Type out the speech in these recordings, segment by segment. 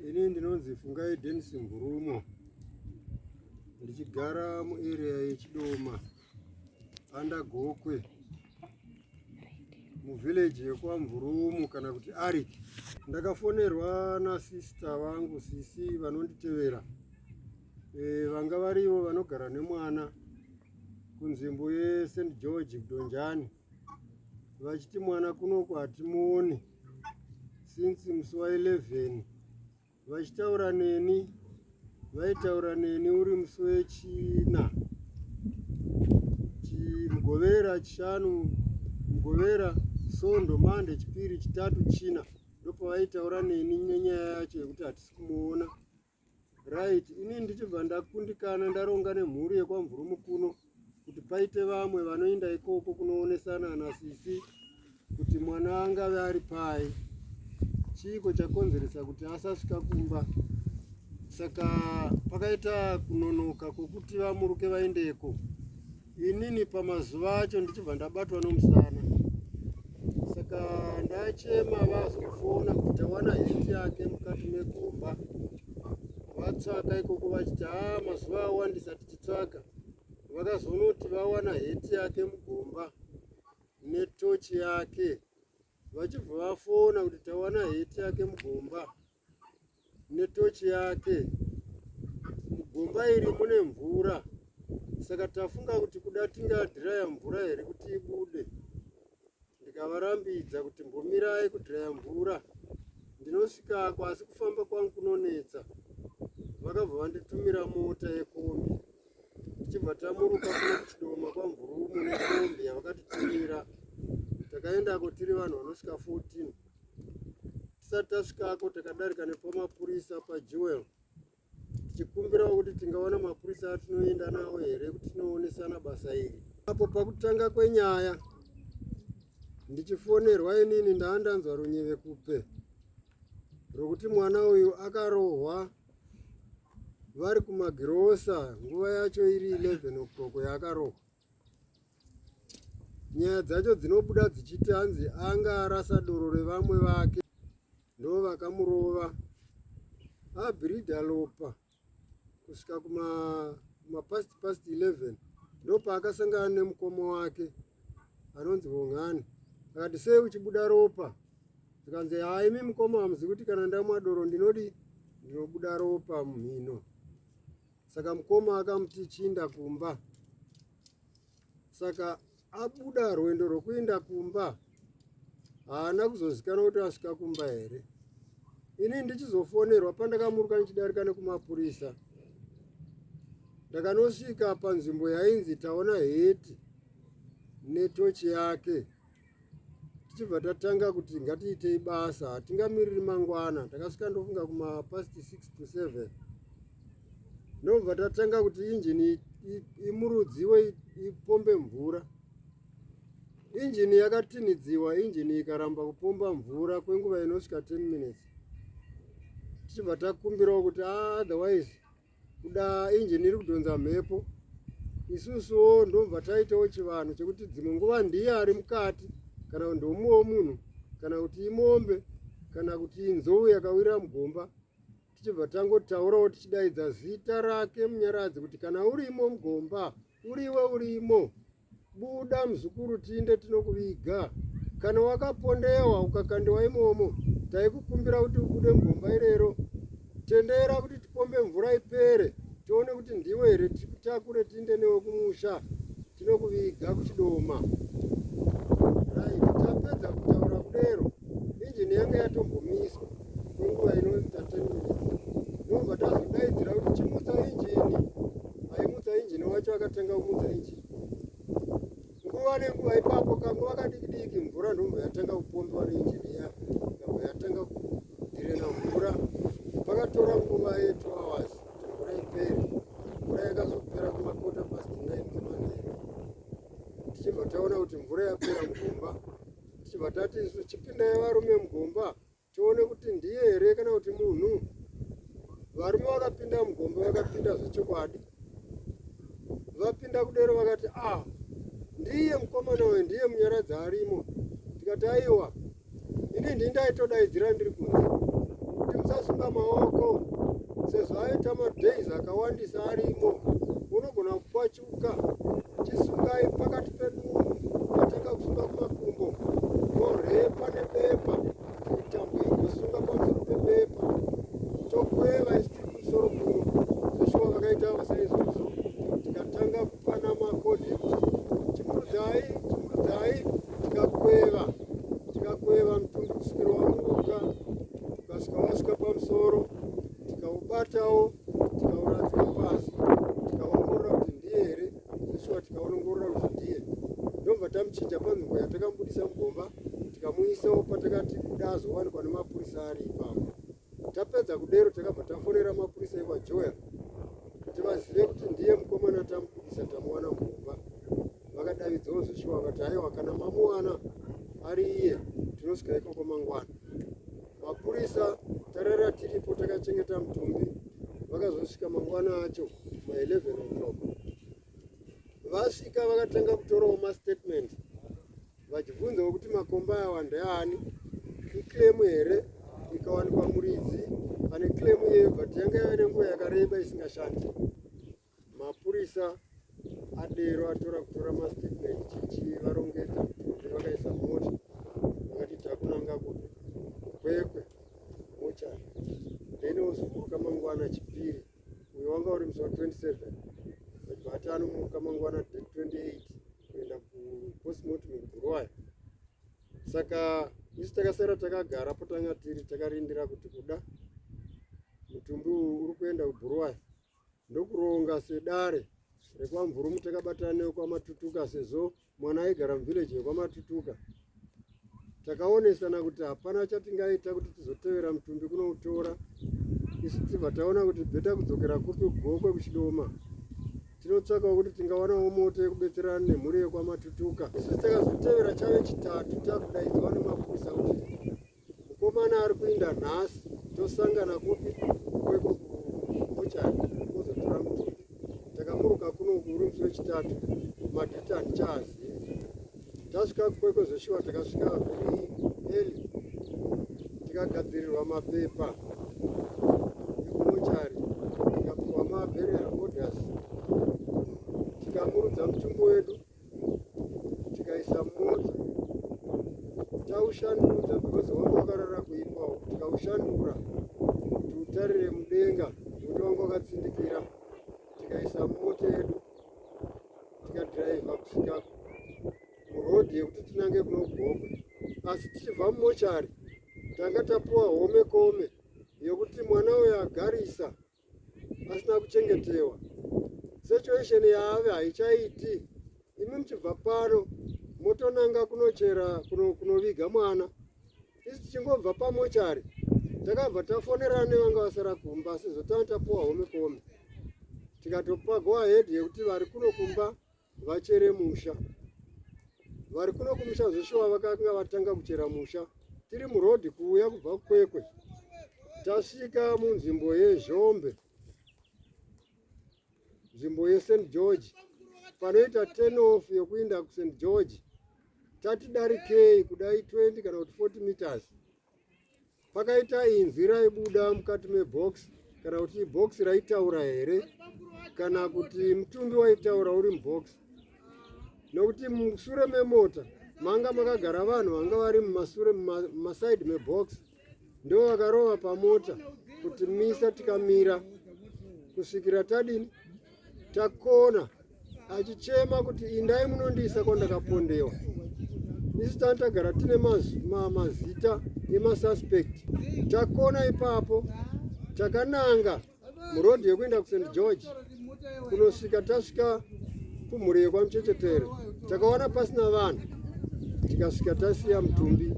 Ini ndinonzi Fungai Dennis Mburumo ndichigara muarea yeChidoma under Gokwe muvillage yekwaMvurumu kana kuti Arik. Ndakafonerwa nasista vangu sisi vanonditevera e, vanga varivo vanogara nemwana kunzvimbo yeSt George Kudonjani. vachiti mwana kunoko hatimuone since musi wa 11 vachitaura neni vaitaura neni uri musi wechina mugovera chishanu mugovera sondo mande chipiri chitatu china ndopavaitaura neni nenyaya yacho yekuti hatisi kumuona right ini ndichibva ndakundikana ndaronga nemhuri yekwamvurumu kuno kuti paite vamwe vanoenda ikoko kunoonesana nasisi kuti mwana angave ari pai chiiko chakonzeresa kuti asasvika kumba saka pakaita kunonoka kwokuti vamuruke vaendeko Inini pamazuva acho ndichibva ndabatwa nomusana, saka ndachema vazofona kuti wana heti yake mukati megomba vatsvaka ikoko vachiti haa mazuva awandisa tichitsvaka vakazonoti vawana heti yake mugomba netochi yake vachibva vafona kuti tawana heti yake mugomba netochi yake. Mugomba iri mune mvura, saka tafunga kuti kuda tingadhiraya mvura here kuti ibude. Ndikavarambidza kuti mbomirai kudhiraya mvura, ndinosvikako asi kufamba kwangu kunonetsa. Vakabva vanditumira mota yekombi tichibva tamuruka kuna kuchidoma kwamvurumu nekombi yavakatitumira takaendako tiri vanhu vanosvika 14 tisati tasvikako takadarika nepamapurisa pajewel tichikumbirawo kuti tingawana mapurisa atinoenda nawo here kuti tinoonesana basa iri apo pakutanga kwenyaya ndichifonerwa inini ndaa ndanzwa runyeve kupe rwokuti mwana uyu akarohwa vari kumagirosa nguva yacho iri 11 o'clock yaakarohwa nyaya dzacho dzinobuda dzichiti hanzi anga arasa doro revamwe vake ndo vakamurova abhirida lopa kusvika kumapast past 11 ndo paakasangana nemukoma wake anonzi vong'ani akati sei uchibuda ropa zvikanzi haimi mukoma hamuzi kuti kana ndamwa doro ndinodi ndinobuda ropa mumhino Saka mukoma akamuti chiinda kumba. Saka abuda rwendo rwekuinda kumba haana kuzozikana kuti asvika kumba here. Ini ndichizofonerwa pandakamuruka ndichidarika nekumapurisa ndakanosvika panzvimbo yainzi taona heti netochi yake. tichibva tatanga kuti ngatiitei basa hatingamiriri mangwana takasvika ndofunga kuma past 6 to 7 ndobva tatanga kuti injini imurudziwe ipombe mvura injini yakatinidziwa injini ikaramba kupomba mvura kwenguva inosvika 10 minutes tichibva takumbirawo kuti ah, otherwise kuda injini iri kudhonza mhepo isusuwo ndobva taitawo chivanhu chekuti dzimwe nguva ndiye ari mukati kana kuti ndomuwo munhu kana kuti imombe kana kuti inzou yakawira mugomba tichibva tangotaurawo tichidaidza zita rake munyaradzi kuti kana urimo mugomba uriwe urimo Buda mzukuru tiinde tinokuviga. Kana wakapondewa ukakandiwa imomo taikukumbira kuti ubude mugomba irero. Tendera kuti tipombe mvura ipere tione kuti ndiwe here tikutakure tiinde newe kumusha tinokuviga kuchidoma. Right, tapedza kutaura kudero injini yange yatombomiswa. kwenguva inoita 10 minutes ndobva tazodaidzira kuti chimutsa injini aimutsa injini wacho akatenga kumutsa injini nguva nenguva ipapo kanguva kadiki diki mvura ndombo yatanga kupombiwa neinjini iya ndombo yatanga kudirena mvura pakatora nguva ye 2 hours mvura ipere mvura yakazopera kumakota past 9 kumanheru tichibva taona kuti mvura yapera mugomba tichibva tati isu chipindai varume mugomba tione kuti ndiye here kana kuti munhu varume vakapinda mugombe vakapinda zvechokwadi vapinda kudero vakati ah ndiye mukomana uyu ndiye munyaradzi arimo tikati aiwa ini ndii ndaitodaidzira ndiri kunze kuti musasunga maoko sezvo aita madays akawandisa arimo unogona kupa Chisungai pakati pedu patanga kusunga kumakumbo torepa nebepa mitambo inosunga pamusoro pebepa tokweva isi tiri kumusoro kuno zveshuwa vakaita vasaizvozvo tikatanga kupana makodi ekuti chimurudzai chimurudzai tikakweva tikakweva mutumbi kusvikira wamuruka ukasvika wasvika pamusoro tikaubatawo tikauradzika pasi tikaongorora kuti ndiye here ishuwa tikaonongorora kuti ndiye ndobva tamuchinja panzvimbo yatakambudisa mugomba tikamuisawo patakati kuda azowanikwa nemapurisa ari ipapo tapedza kudero takabva tafonera mapurisa ekwajoya kuti vazive kuti ndiye mukomana tamubudisa tamuwana mugomba vakadavidzawo zveshuwa vakati haiwa kana mamuwana ari iye tinosvika ikoko mangwana Mapurisa tarara tiripo takachengeta mutumbi vakazosvika mangwana acho ma 11 o'clock. Vasvika vakatanga kutorawo mastatement vachibvunzawo kuti makomba awa ndeani, iclaim here ikawanikwa muridzi ane claim iyeyo but yanga yave nenguva yakareba isingashandi. Mapurisa adero atora kutora mastatement chichivarongedza kuti vakaisa mota vakati takunanga kupi kwekwe mochari then wozomuka mangwana chipiri uyo wanga uri musi wa 27 vati anomuka mangwana 28 kuenda kupostmortem kuroya saka isu takasara takagara po tanga tiri takarindira kuti kuda mutumbi uyu uri kuenda kuburuwai ndokuronga sedare rekwamvuru mutakabatane wekwamatutuka sezvo mwana aigara muvhileji yekwamatutuka takaonesana kuti hapana chatingaita kuti tizotevera mutumbi kunoutora isu tibva taona kuti bheta kudzokera kupi kugokwe kuchidoma tinotsvakawo kuti tingawanawo moto yekubetserana nemhuri yekwamatutuka isu takazotevera chave chitatu takudaidzwa nemapurisa kuti Mukomana ari kuinda nhasi tosangana kupi kweko kubuchari kuzotora mutumbi. Takamuruka kuno uri musi wechitatu madhiti handichaazivi. Tasvika kweko zveshuwa takasvika vhiri eli tikagadzirirwa mapepa ekumochari tikapiwa mabheri aodhasi tikamurudza mutumbi wedu tikaisa mota taushandudza because wanga wakarara kuipawo tikaushandura tiutarire mudenga kuti wanga wakatsindikira tikaisa mota yedu tikadhiraivha kusvika murodhi yekuti tinange kunogomba asi tichibva mumochari tanga tapuwa home kome yekuti mwana uyo agarisa asina kuchengetewa situation yaave haichaiti imi muchibva pano motonanga kunochera kunoviga mwana isi tichingobva pamochari takabva tafonerana nevanga vasara kumba asi zotanga tapuwa home kome tikatopa go ahead yekuti vari kuno kumba vachere musha vari kuno kumusha zveshuwa vakanga vatanga kuchera musha tiri murodhi kuuya kubva kukwekwe tasvika munzvimbo yezhombe nzvimbo yest george panoita tenof yokuinda kust george tatidarikei kudai 20 kana kuti 40 meters Pakaita inzwi raibuda mukati mebox kana kuti box raitaura here kana kuti mutumbi waitaura uri mubox nokuti musure memota manga makagara vanhu vanga vari mumasure mumasaidi mebox ndo vakarova pamota kuti misa tikamira kusvikira tadini Takona achichema kuti indai munondiisa kwandakapondewa. Isu tanga tagara tine mazita emasuspect. Takona ipapo takananga murodhi yekuenda kuSt George kunosvika tasvika kumhuri yekwamuchechetere takaona pasina vanhu tikasvika tasiya mutumbi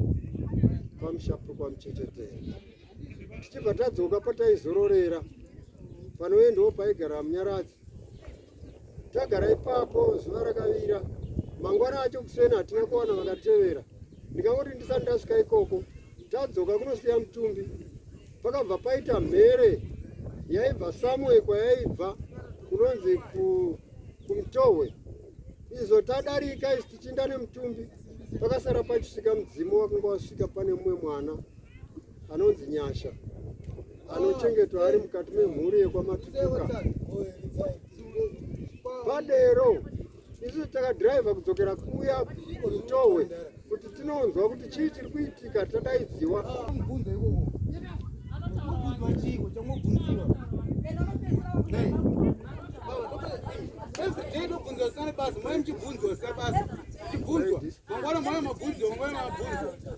pamushapo kwamuchechetere. tichibva tadzoka pataizororera panoendawo paigara munyaradzi tagara ipapo zuva rakavira mangwana acho kuseni hatina kuwana vakatevera ndikangoti ndisati ndasvika ikoko tadzoka kunosiya mutumbi pakabva paita mhere yaibva samue kwayaibva kunonzi kumtohwe izvo tadarika isi tichinda nemutumbi pakasara pachisvika mudzimu wakanga wasvika pane mumwe mwana anonzi Nyasha anochengetwa ari mukati memhuri yekwaMatutuka padero isu takadhiraivha kudzokera kuya kutohwe kuti tinonzwa kuti chii chiri kuitika tadaidziwa basa mai muchibvunzwa sa basa chibvunzwa mangwana mwana mabvunzwa mangwana mabvunzwa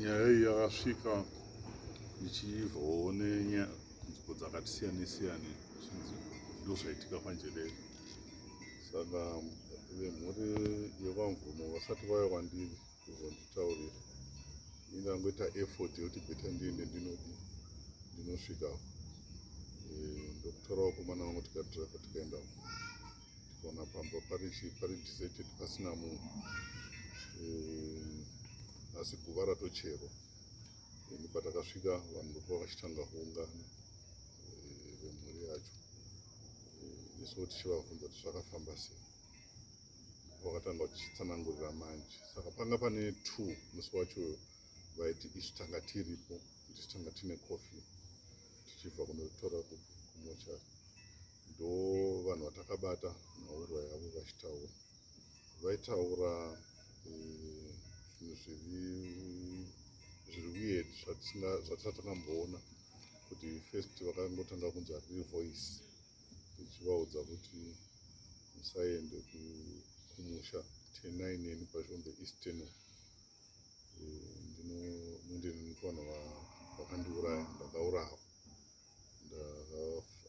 Nyaya iyi yakasvika ndichibvawo nenyanziko dzakati siyane siyane zvinzi ndozvaitika panjerere saka vemhuri yevamvumo vasati vaya kwandiri kuzonditaurira ingangoita effort yekuti beta ndiende ndinodii ndinosvika eh, ndokutorawo komana vangu tikadriver tikaenda Tikaona pamba pari deserted pasina munhu eh, asi guva ratocherwa ini patakasvika vanhu ndokuva vachitanga kuungana eh, vemhuri yacho eh, isu tichivabvunza kuti zvakafamba sei vakatanga vachitsanangurira manje saka panga pane two musi wacho vaiti isu tanga tiripo tisu tanga tine coffee tichibva kunotora kumochari ndo vanhu vatakabata nhaurwa yavo vachitaura vaitaura eh, zvinhu zviri zviri weird zvatisati takamboona kuti first vakangotanga kunzi hariri voice ichivaudza kuti musaende kumusha tenai neni pashombe eastern eh, ndinoende nekuvanhu vakandiuraya ndakaurawa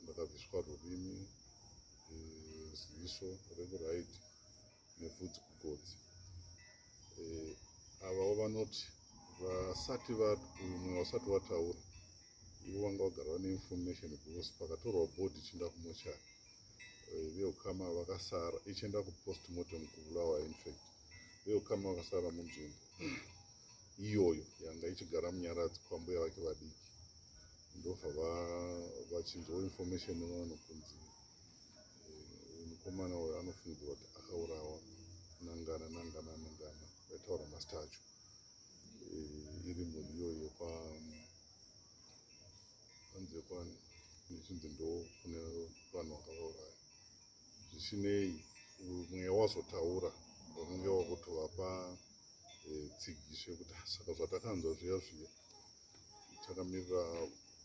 ndakabviswa rurimi eh, ziso rekuraiti nepfudzi kugotsi eh, avawo vanoti vasati mumwe wasati wataura ivo vanga vagara vane information because pakatorwa body ichienda kumochari eh, veukama vakasara ichienda kupost mortem kubulawa infact veukama vakasara munzvimbo iyoyo yanga ichigara munyaradzi kwambuya vake vadiki ndobva vachinzwa information nevanhu kunzi eh, mukomana uyo anofungidzwa kuti akaurawa nangana nangana nangana vaitaura mazita acho eh, iri mhuri iyoyo panzi yekwani ichinzi ndo kune vanhu vakavauraya zvisinei mweya wazotaura vanenge wakutovapa eh, tsigiso yekuti ah, saka zvatakanzwa zviya zviya takamirira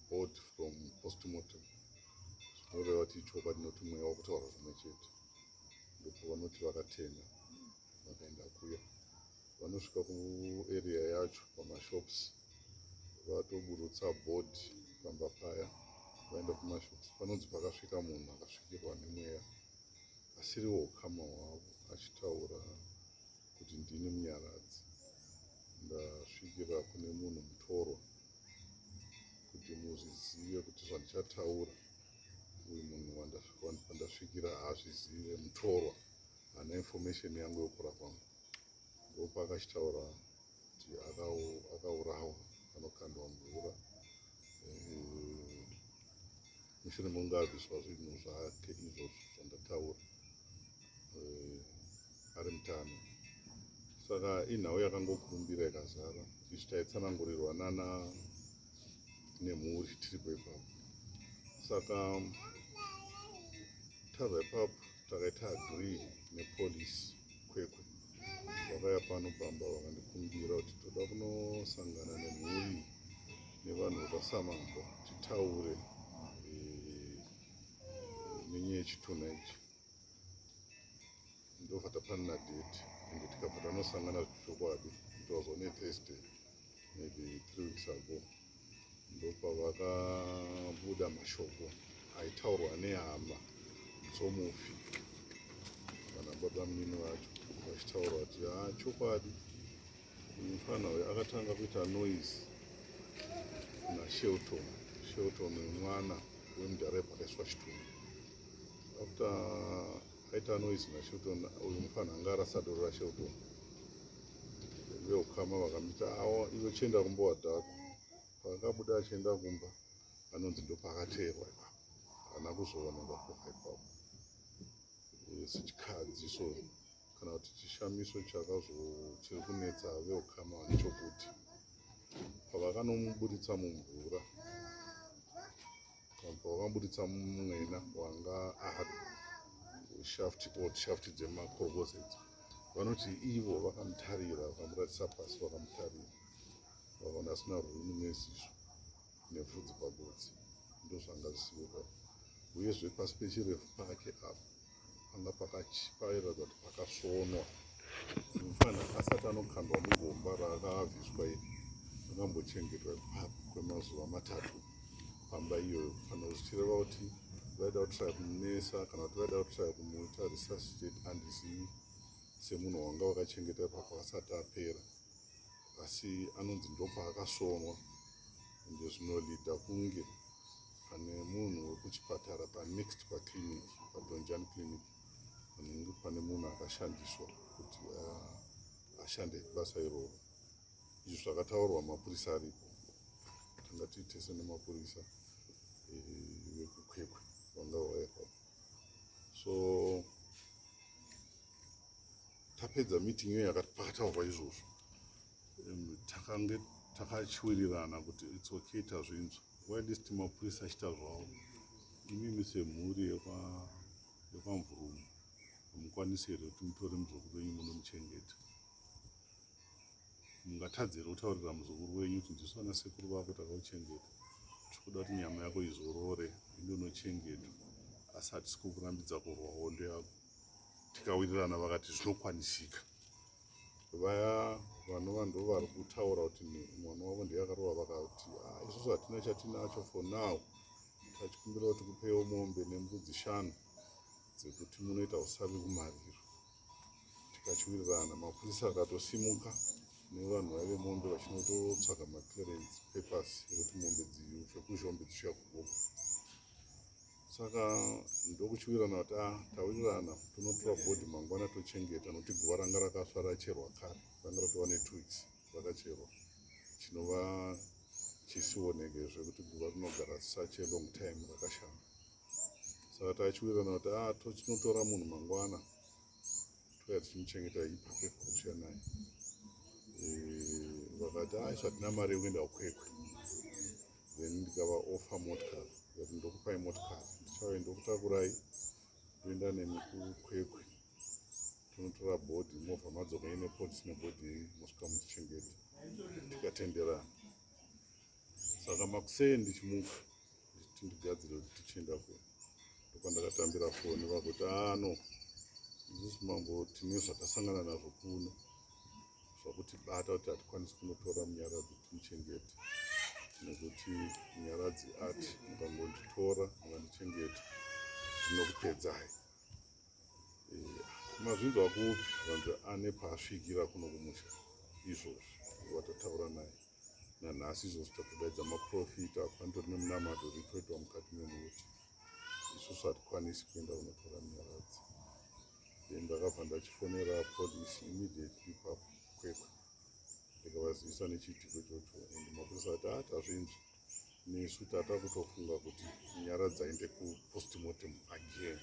board from postmortem zvinoreva kuti chokwadi noti mweya wakutaura zvimwe chete ndipo vanoti vakatenga vakaenda kuya vanosvika kuarea yacho pamashops vatoburutsa board pamba paya vaenda kumashops panonzi pakasvika munhu akasvikirwa nemweya asiriwo ukama hwavo achitaura kuti ndini munyaradzi ndasvikira kune munhu mutorwa kuti muzvizive kuti zvandichataura uyu munhu wandasvikira hazvizive mutorwa hana information yangu yokura kwangu ndopaakachitaura kuti akaurawa anokandwa mvura eh, mushure mekunge abviswa zvinhu zvake izvozvo zvandataura eh, ari mutano saka inhau yakangokurumbira ikazara izvi taitsanangurirwa nana nemhuri tiripo ipapo saka tava ipapo takaita agree nepolice kwekwe vakaya pano pamba vakandikumbira kuti toda kunosangana nemhuri nevanhu vakasamamba titaure eh, nenyaya yechitunha ichi ndobva tapanana date and tikabva tanosangana zvechokwadi it was on a thursday maybe three weeks ago ndopavakabuda mashoko aitaurwa nehama dzomufi kana baba munini vacho vachitaurwa kuti ha ah, chokwadi mufana uyo akatanga kuita noise nashelton shelton mwana wemudhara yepakaiswa chitunhu after aita noise nashelton uyu mufanha anga arasa doro rashelton veukama vakamita awo ivo chienda kumba wadhako paakabuda achienda kumba anonzi ndopaakateerwa ipapo haana kuzoona ndakoka ipapo sechikadzi so kana kuti chishamiso chakazochiri kunetsa veukama nechokuti pavakanomuburitsa mumvura apa wakaburitsa mwena wanga ahari shafti old shafti dzemakorokose idzi vanoti ivo vakamutarira vakamuratisa pasi vakamutarira vakaona asina rwunu nezizvo nepfudzi pagotsi ndozvanga zvisiveka uyezve pasi pechirefu pake apo panga pakachipaira kuti pakasvonwa mufana asati anokandwa mugomba raakaabviswa iri akambochengetwa ipapo kwemazuva matatu pamba iyoyo fana zvichireva kuti vaida kutraya kumunesa kana kuti vaida kutraya kumuita resuscitate andizivi semunhu wanga wakachengeta ipapo asati apera asi anonzi ndopaakasvonwa ende zvinolida kunge pane munhu wekuchipatara panext paclinic padonjan clinic anenge pane munhu akashandiswa kuti ah, ashande basa iroro izvi zvakataurwa mapurisa aripo tanga tiitese nemapurisa eh, vekukwekwe vanga vaekwa so tapedza meeting iyo yakati pakataurwa izvozvo takange takachiwirirana kuti its okay tazvinzwa Why this team of police achita zvavo? Imi mise mhuri yekwa yekwa mvurumu. Mukwanise here kuti mutore muzukuru wenyu muno muchengete? Mungatadze here kutaurira muzukuru wenyu kuti ndisu ana sekuru vako takauchengeta. Tikuda kuti nyama yako izorore ende unochengetwa. Asi hatisi kukurambidza kurwa hondo yako. Tikawirirana vakati zvinokwanisika. vaya vanova ndo vari kutaura kuti mwana wavo ndiye akarova vakati ah, isusu hatina chatinacho for now tachikumbira kuti kupewo mombe nembudzi shanu dzekuti munoita usavi kumariro tikachiwirirana mapurisa akatosimuka nevanhu vaive mombe vachinototsvaga maclearance papers ekuti mombe dziufe kuzhombe dzichiya kugogo saka ndokuchiwirana kuti a ah, tawirirana tonotora bhodhi mangwana tochengeta nokuti guva ranga rakasva racherwa kare ranga ratova netwo weeks rakacherwa chinova chisioneke zvekuti guva rinogara such a long time rakashama saka tachiwirana kuti a ah, tochinotora munhu mangwana touya tichimuchengeta ipapo kuchiya naye eh, vakati a ah, zvatina mari yekuenda ukwekwe then ndikava offer motkari but ndokupai motkari ndichave ndokutakurai toenda nemi kukwekwe tonotora bhodhi movha madzoka ine polisi nebhodhi iyi mosvika muchichengeta tikatenderana saka makusei ndichimuka ndichiti ndigadzire kuti tichienda kune ndopandakatambira foni vakuti ano ah, isusu mambo tine zvakasangana nazvo kuno zvakutibata kuti hatikwanisi kunotora munyaradzi timuchengete nekuti munyaradzi ati mukangonditora mukandichengeta zvinokupedzai eh, mazvinzwa kupi vanzi ane paasvikira kuno kumusha izvozvi watataura naye nanhasi izvozvi tatodaidza maprofita apanitori nemunamato zvitoitwa mukati memuti isusu hatikwanisi kuenda kunotora munyaradzi then ndakabva ndachifonera police immediately ipapo kwekwe ndikavazivisa nechiitiko chocho and mapurisa ati ati azvinzvi nesu tata kutofunga kuti nyara dzainde kupostmortem again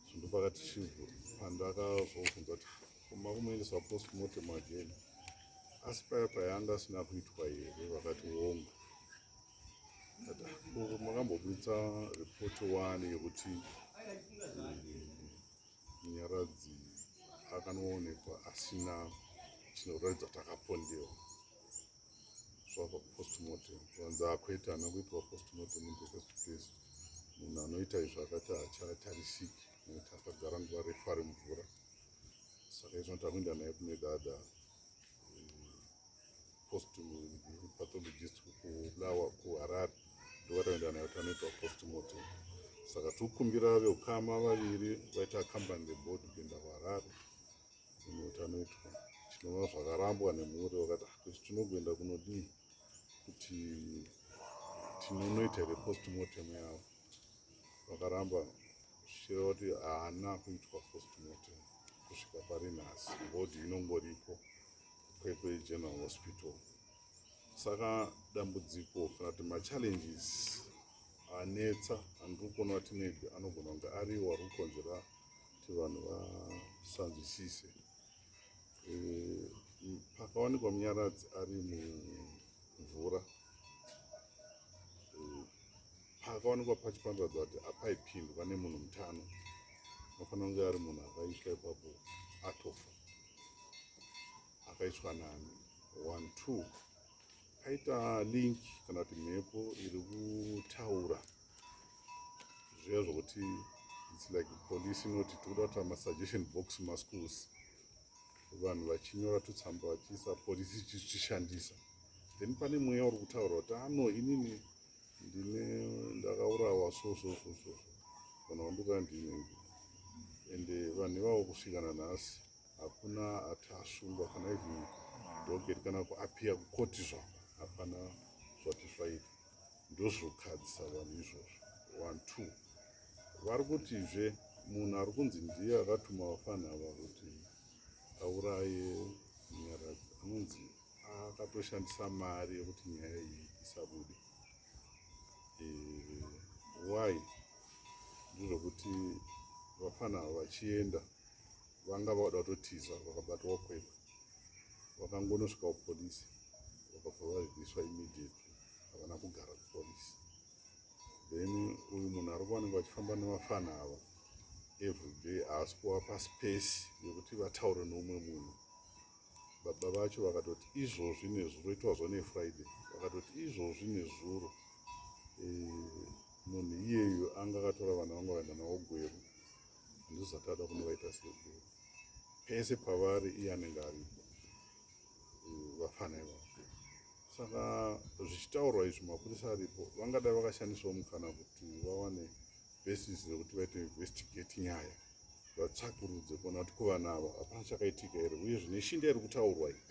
so ndopakati chivhu pandakazobvunza kuti koma kumoendesa postmortem again asi paya payanga asina kuitwa here vakati wonga makambobuditsa report wani yekuti munyaradzi eh, akanoonekwa asina chinoratidza kuti akapondewa zvava postmortem vanzi akwete ana kuitwa postmortem in the first place munhu anoita izvo akati hachatarisiki nekuti akagara nguva refu ari mvura saka izvo noti akuenda naye kune dada eh, post pathologist kubulawa kuharare ndovataenda nayo tanoitwa post mortem saka tikumbira veukama vaviri vaita accompany the body kuenda kuharare ino tanoitwa tinova zvakarambwa nemhuri vakati ah, kuti tinogoenda kunodii kuti tinonoita here post mortem yavo vakaramba zvichireva kuti haana kuitwa post mortem kusvika pari nhasi body inongoripo Kwekwe General Hospital. Saka dambudziko kana kuti machallenges anetsa andiri kuona kuti maybe anogona kunge ariwo ari kukonzera kuti vanhu vasanzwisise eh, pakawanikwa munyaradzi ari mumvura eh, pakawanikwa pachipanduradza kuti apaipindwa nemunhu mutano anofanira kunge ari munhu akaiswa ipapo atofa akaiswa nani one two paita link kana kuti mhepo iri kutaura zviya zvokuti its like police inoti tikuda kuita masuggestion box maschools vanhu vachinyora tutsamba vachiisa polisi ichitishandisa then pane mweya uri kutaura kuti ano ah, inini ndine ndakaurawa so so so so vanhu vanduka ndini and vanhu ivavo kusvika nanhasi hakuna ati asungwa kana ivi doket kana kuapia kukoti zva hapana zvati zvaita ndozvokadzisa vanhu izvozvo one two vari kutizve munhu ari kunzi ndiye akatuma vafana ava kuti auraye nyaradzi anonzi akatoshandisa mari yekuti nyaya iyi isabude eh, why ndizvokuti vafana avo vachienda vanga vauda kutotiza vakabatwa kwekwe vakangonosvika kupolisi vakabva vazviswa immediately havana kugara kupolisi then uyu munhu ari kuvanenge vachifamba nevafana ava everyday haasi kuvapa space yekuti vataure neumwe munhu baba vacho vakatoti izvozvi nezuro itwazwa nefriday vakatoti izvozvi nezuro eh, munhu iyeyo anga akatora vana vanga vaenda navo gweru handizati ada kunovaita segweru pese pavari iye anenge aripo eh, vafana ivavo saka zvichitaurwa izvi mapurisa aripo vangadai vakashandisawo mukana kuti vawane basis rekuti vaite investigate nyaya vatsvakurudze kuona kuti kuvana ava hapana chakaitika here uye zvine shinda iri kutaurwa iyi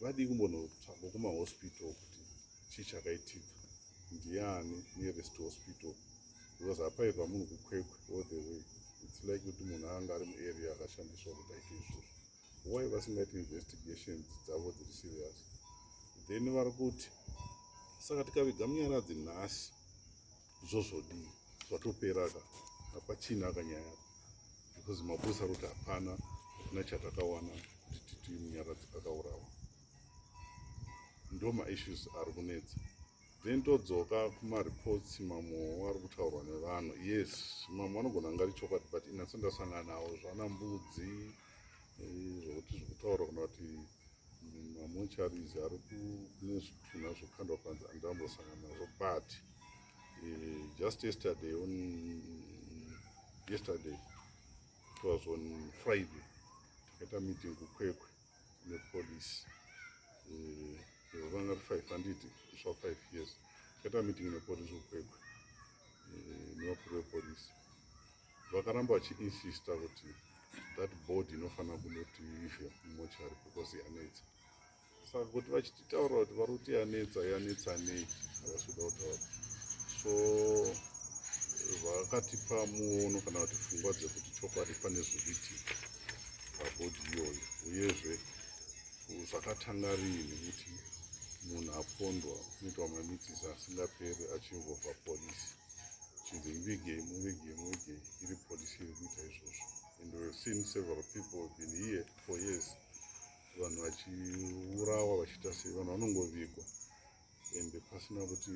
vadii kumbonotsvagwa kumahospital kuti chii chakaitika ndiani nearest hospital because hapairwa munhu kukwekwe all the way its like kuti munhu anga ari muarea akashandiswa kuti aite izvozvo why vasingaiti investigations dzavo dziri serious then vari kuti saka tikaviga munyaradzi nhasi zvozvodii zvatopera ka hapachina kanyaya because mapurisa ari kuti hapana hakuna chatakawana kuti titi munyaradzi akaurawa ndo maissues ari kunetsa then todzoka kumareports mamwe ari kutaurwa nevanhu yes mamwe anogona anga ari chokwadi but inatso ndasangana nawo zvana mbudzi eh, zvokuti zvokutaura kuna kuti mamocharizi ari kune zvitunha zvokandwa panzi andambosangana nazvo but eh, just yesterday on yesterday it was on friday takaita meeting kukwekwe nepolice vanga ri five handiti sva five years takaita meeting nepolice kukwekwe eh, nevakuru vepolice vakaramba vachiinsista kuti that body inofanira kundoti ife mumochari because yanetsa saka kuti vachititaura kuti vari kuti yanetsa yanetsa nei havasi kuda kutaura so vakatipa muono kana kuti pfungwa dzekuti chokwadi pane zviritika pabhodhi iyoyo uyezve zvakatanga rii nekuti munhu apondwa unoitwa mamitisi asingaperi achimbobva polisi chinzi muvigei muvigei muvigei iri polisi iri kuita izvozvo and we've seen several people have been here for years vanhu vachiurawa vachiita sei vanhu vanongovigwa and pasina kuti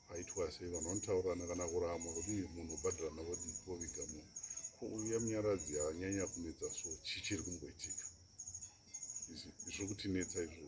paitwa sei vanhu vanotaurana kana kurama kuti munhu ubhadhirana vodi poviga munhu ko uya munyaradzi anyanya kunetsa so chichiri kumboitika izvo kutinetsa izvoo